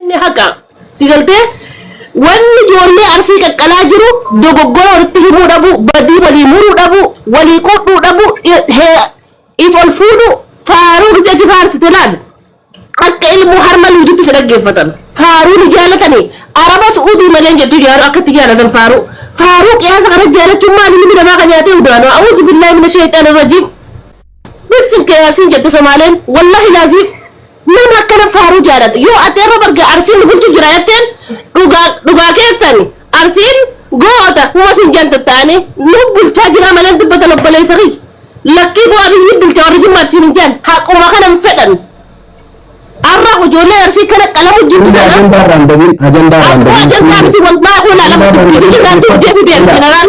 Inni haqa. Si galtee? Wanni ijoollee arsii qaqqalaa jiru dogoggora walitti himuu dhabu, badii walii muruu dhabu, walii qodhuu dhabu, if ol fuudhu faaruu gisee itti faarsite laal. Akka ilmoo harma liidutti si dhaggeeffatan. Faaruu ni jaalatani. Araba su'uudii malee jettu jaaru akka itti jaalatan faaruu. Faaruu qiyaasa kana jaalachuun maali ilmi namaa kan nyaatee udaanu. A'uuzu billaahi mina sheexaana rajiim. Bisin kee yasin jette somaaleen wallahi laziim nama akkana faaruu jaalata yoo ati irra barga arsiin nu bulchu jira jetteen dhugaa dhugaa keessani arsiin goota huma sin janta taane nu bulchaa jira malee dubbatan obboleessa kiyya lakkii bu'aa biyyi bulcha warri jimmaati sin hin jaan haquma kana hin fedhan arra ijoollee arsii kana qalamu jirtu Hundi kana ajandaa irraan bahin ajandaa irraan Aku bahin. aja tapi wal ma aku nak lama tu dia dia tu dia dia general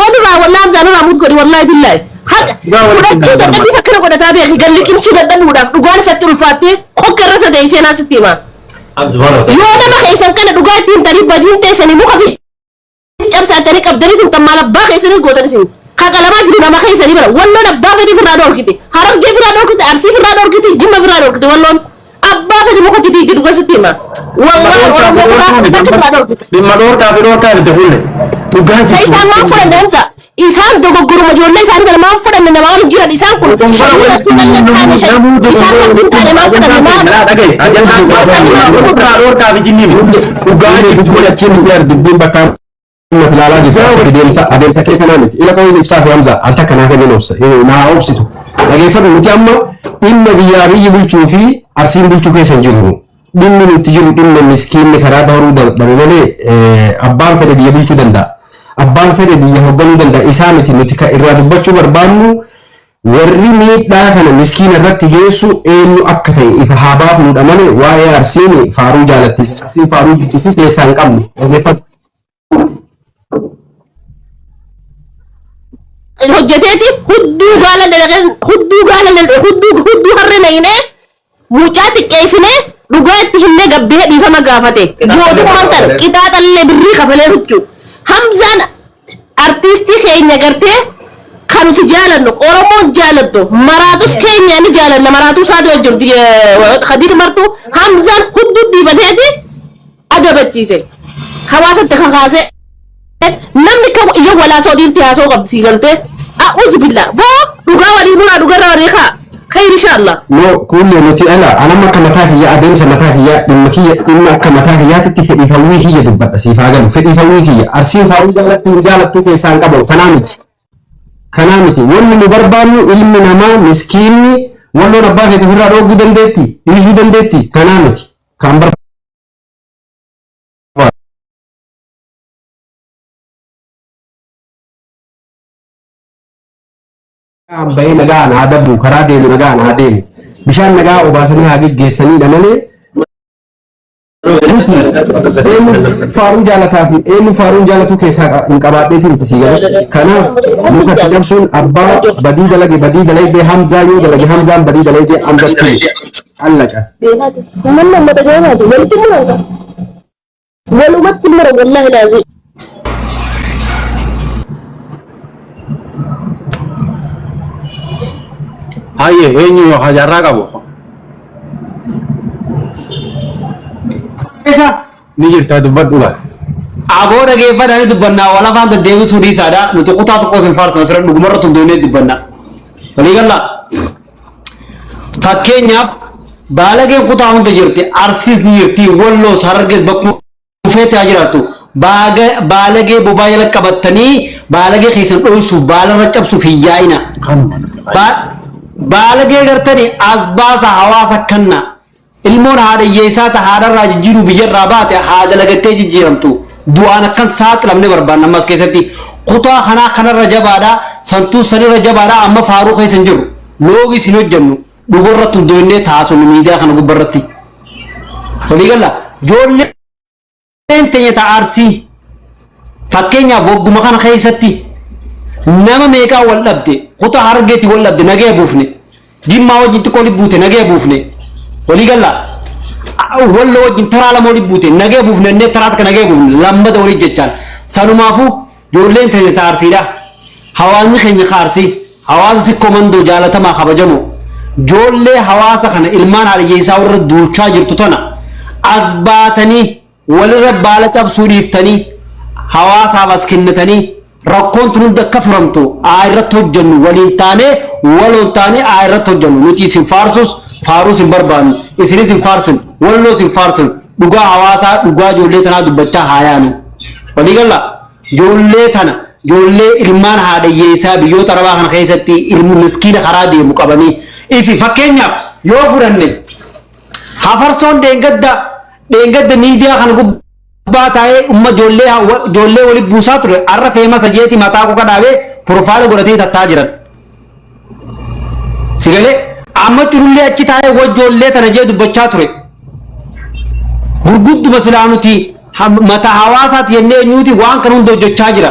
Walirraa wallaa Hamzaa nurraa mut godhi wallaahi billaahi. Haqa Dhugaa walitti fudhachuu hin dadhabbii danda'amu. fakkana godhataa beeki galli qimsuu dadhabuudhaaf dhugaan isatti ulfaattee kokka irra isa deessee naa sitti himaa. Abdu bara. Yoo nama keessan kana dhugaa ittiin tarii badiin teessanii muka fi cabsaatanii qabdanii kun tammaal abbaa keessanii gootan isin. Kakalamaa jiru nama keessanii bara walloon abbaa fedhii firraa dhorkite harargee firraa dhorkite arsii firraa dhorkite jimma firraa dhorkite walloon. Abbaa fedhe muka itti diiggidu keessatti hima. Wallahi Oromoo biraa akka biraa dhorkita. Dhimma dhorkaa fi dhorkaa itti fulle. Dhugaan Isa isaan waan fudhan deemsa. Isaan dogoggoruma ijoollee isaanii kana maan fudhanne nama waan jiran isaan kun shanii rasuu kan hin taane shan isaan kan hin taane maan fudhanne maan Dhugaa jechuun achiin hin jiru dubbiin bakka Naf ilaalaa jirta akkati deemsa adeemta kee kanaa miti. Ila qabuun ibsaa fi hamza al takka naa kennin obsa. Naa obsitu. Dhageeffadhu nuti amma dhimma biyyaa biyyi bulchuu fi arsiin bulchuu keessa hin jirru. Dhimmi nuti jiru dhimma miskiinni karaa dabaruu dadhabe malee abbaan fedhe biyya bulchuu danda'a. Abbaan fedhe biyya hoogganuu danda'a. Isaa miti nuti kan irraa dubbachuu barbaannu warri miidhaa kana miskiina irratti geessu eenyu akka ta'e ifa haa baafnudha malee waa'ee arsiin faaruu jaalatti. Arsiin faaruu jaalatti keessaa hin qabnu. Dhageeffadhu. hojjeteeti hudduu gaala dalageen hudduu gaala dal- hudduu hudduu harree naqinee mucaa xiqqeessinee dhugaa itti himnee gabbee dhiifama gaafate mootummaan tan qixaaxallee birrii kafalee huccuu hamzaan artiistii keenya gartee kan nuti jaalannu oromoon jaalattu maraatus keenya ni jaalanna maraatuu isaati wajjin kadiir martuu hamzaan hudduu dhiibateeti adabachiise hawaasa itti kakaase namni kam iyya walaasoo dhiirti haasoo qabdi sii galtee a'uuzu billaa boo dhugaa walii nuraa dhugarra walii kaa khayri inshaallaa no kuullee nuti ala anam akka mataa kiyya adeemsa mataa kiyya dhimma kiyya dhimma akka mataa kiyyaatitti fedhii hawwii kiyya dubbadha siif haa galu fedhii hawwii kiyya arsiin faawwii jaallattu hin jaallattu keessaa hin qabu kanaa miti kanaa miti wanni nu barbaannu ilmi namaa miskiinni walloon abbaa keetii ofirraa dhooguu dandeetti dhiisuu dandeetti kanaa miti kan barbaannu Nagaan bahee nagaan haa darbu karaa deemu nagaan haa deemu bishaan nagaa obaasanii haa geggeessaniidha malee nuti eenyu faaruun jaalataa fi eenyu faaruun jaalatuu keessaa hin qabaadheetiin itti sii galu kanaaf muka itti cabsuun abbaa badii dalage badii dalagdee hamzaa yoo dalage hamzaan badii dalagdee hamzatti Allaqa. Beekaati. Uummanni uummata jooraati. Walitti muran kan. Walumatti muran wallaahi laazii. Haye eenyu yoo hajarraa qabu. Isa ni jirtaa dubbadhu laata. Aboo dhageeffadhaan dubbannaa wal afaan deddeebisuu dhiisaadha. Nuti kutaa tokkos hin faartan asirra dhugumarratti hundoonee dubbanna. Walii gallaa. Fakkeenyaaf baalageen kutaa hunda jirti arsiis ni jirti walloos harargees bakkuma dhufeetti haa jiraattu baalagee bobaa jala qabattanii baalagee keessan dhoysuuf baalarra cabsuuf hin yaa'ina. Baalagee gartanii as baasa hawaasa kanna. Ilmoon haadha hiyyeessaa ta haadha irraa jijjiiruu biyya irraa baate haa dalagattee jijjiiramtu. Du'aan akka hin saaxilamne barbaanna amma as keessatti. Kutaa kanaa kanarra jabaadha, santuus sanirra jabaadha amma faaruu keessa hin jirru. Loogiis hin hojjennu. Dhuga irratti hundooynnee taasofnu miidiyaa kana gubba irratti. Walii galla? Joollee Ijoolleen teenya ta Arsii fakkeenyaaf wagguma kana keessatti nama meeqaa wal dhabde kuta hargeetti wal dhabde nagaya buufne jimmaa wajjin xiqqoo libbuute nagaya buufne walii galla wallo wajjin taraa lama wali buute nagaya buufne innee taraa takka nagaya buufne lammada walii jechaan sanumaafuu Ijoolleen teenya ta Arsiidha. Hawaasni keenya ka Arsii, hawaasa Sikkoo Mandoo jaalatamaa kabajamoo, ijoollee hawaasa kana ilmaan haadhiyyeessaa warra duulchaa jirtu tana as baatanii walirra baala cabsuu dhiiftanii hawaasaaf as kennitanii rakkoon tun hundi akka furamtu aa irratti hojjennu waliin taanee waloon taanee aa irratti hojjennu nuti isin faarsus faaruus hin barbaannu isinis hin faarsin walloos hin faarsin dhugaa hawaasaa dhugaa ijoollee tanaa dubbachaa haa yaanu. Walii gallaa? Ijoollee tana, ijoollee ilmaan haadha hiyyeessaa biyyoota Arabaa kana keessatti ilmi miskiina karaa deemu qabanii ifi fakkeenyaaf yoo fudhanne hafarsoon dheengadda dheengadda miidiyaa kana gubbaa taa'ee umma ijoollee ijoollee walitti buusaa ture har'a feemasa jeeti mataa koka dhaabee piroofaayila godhatee tattaa jiran. Sigalee amma jirullee achi taa'ee wajjoollee tana jee dubbachaa ture. Gurgudduma silaa nuti ham- mata hawaasaati jennee eenyuuti waan kana hunda hojjechaa jira.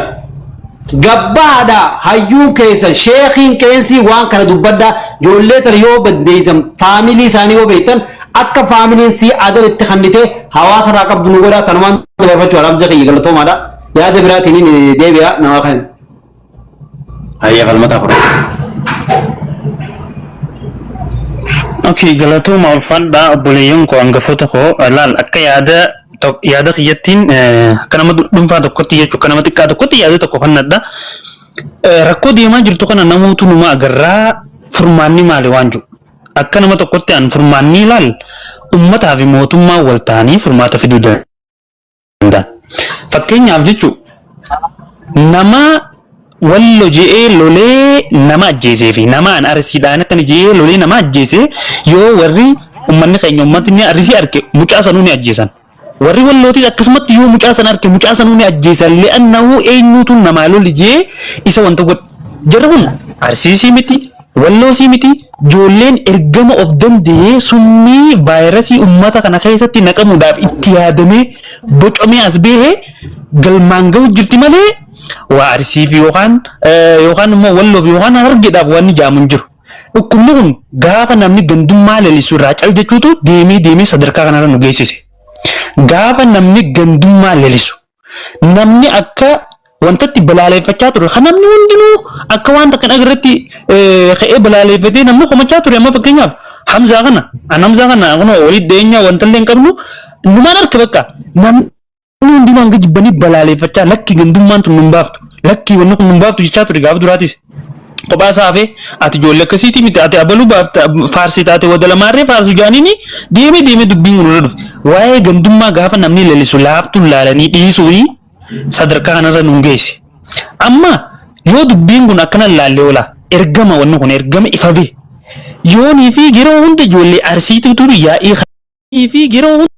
Gabbaadha hayyuun keessan sheekiin keensii waan kana dubbadhaa ijoollee tana yoo baddeessan faamilii isaanii yoo beektan akka faamiliin sii adan itti kannitee hawaasa irraa qabdu nu godhaa tanumaan dabarfachuu alaabsa kiyya galatoomaadha. Yaada biraatiin deebi'a nama kan. Hayyee falmataa fudhadha. Okay, galatooma ulfaadhaa obboleeyyan koo hangafoota koo laal akka yaada to- yaada kiyyattiin eh, akka nama dhu- dhuunfaa tokkotti jechuun akka nama xiqqaa tokkotti yaada tokko kannadha. Eh, Rakkoo deemaa jirtu kana namootu numa agarraa furmaanni maali waan jiru. Akka nama tokkotti an furmaanni laal ummataa fi mootummaa wal ta'anii furmaata fiduu danda'u. danda'a. Fakkeenyaaf jechuun nama wallo je'ee lolee nama ajjeesee fi nama an arsiidhaan akkana je'ee lolee nama ajjeese yoo warri ummanni keenya ummatni arsii arge mucaa sanuu ni ajjeesan. Warri wallootis akkasumatti yoo mucaa sana arge mucaa sanuu ni ajjeesan li'annahu eenyuutu namaa loli je'ee isa wanta godhe. Jarri kun arsiisii miti Walloo sii mitii joolleen ergama of danda'ee summii vaayirasii ummata kana keessatti naqamuudhaaf itti yaadamee bocamee as bahe galmaan gahu jirti malee waa arsiif yookaan yookaan immoo walloof yookaan harargeedhaaf waan ni jaamu hin jiru. Dhukkubni kun gaafa namni gandummaa lalisu irraa cal jechuutu deemee deemee sadarkaa kanarra nu geessise. Gaafa namni gandummaa lalisu. namni akka wantatti balaaleeffachaa ture kan namni hundinuu akka waan takka dhaga irratti ka'ee balaaleeffatee namni komachaa ture amma fakkeenyaaf hamzaa kana an hamzaa kana kunoo walii dhiyeenya wantallee hin qabnu numaan arka bakka namni hundinuu hanga jibbanii balaaleeffachaa lakki gandummaan tun nun baaftu lakki wanni kun nun baaftu jechaa ture gaaf duraatis kophaa isaa hafee ati ijoollee akkasiitii miti ati abaluu baafta faarsii taate wada lamaarree faarsu jaaniini deemee deemee dubbiin kun irra dhufe waa'ee gandummaa gaafa namni lalisu laaftuun laalanii dhiisuuni sadarkaa kanarra nuun geesse amma yoo dubbiin kun akkana laallee oolaa ergama wanni kun ergama ifa bee yoonii fi yeroo hunda ijoollee arsiituutu yaa'ii fi yeroo hunda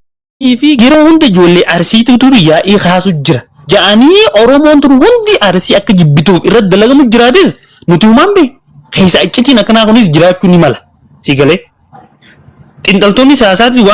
fi yeroo hunda ijoollee Arsiitu dur yaa'ii kaasu jira ja'anii Oromoon tun hundi Arsii akka jibbituuf irratti dalagamu jiraates nuti humaan bee keessa accitiin akkanaa kunis jiraachuu ni mala si galee xinxaltoonni siyaasaatis waan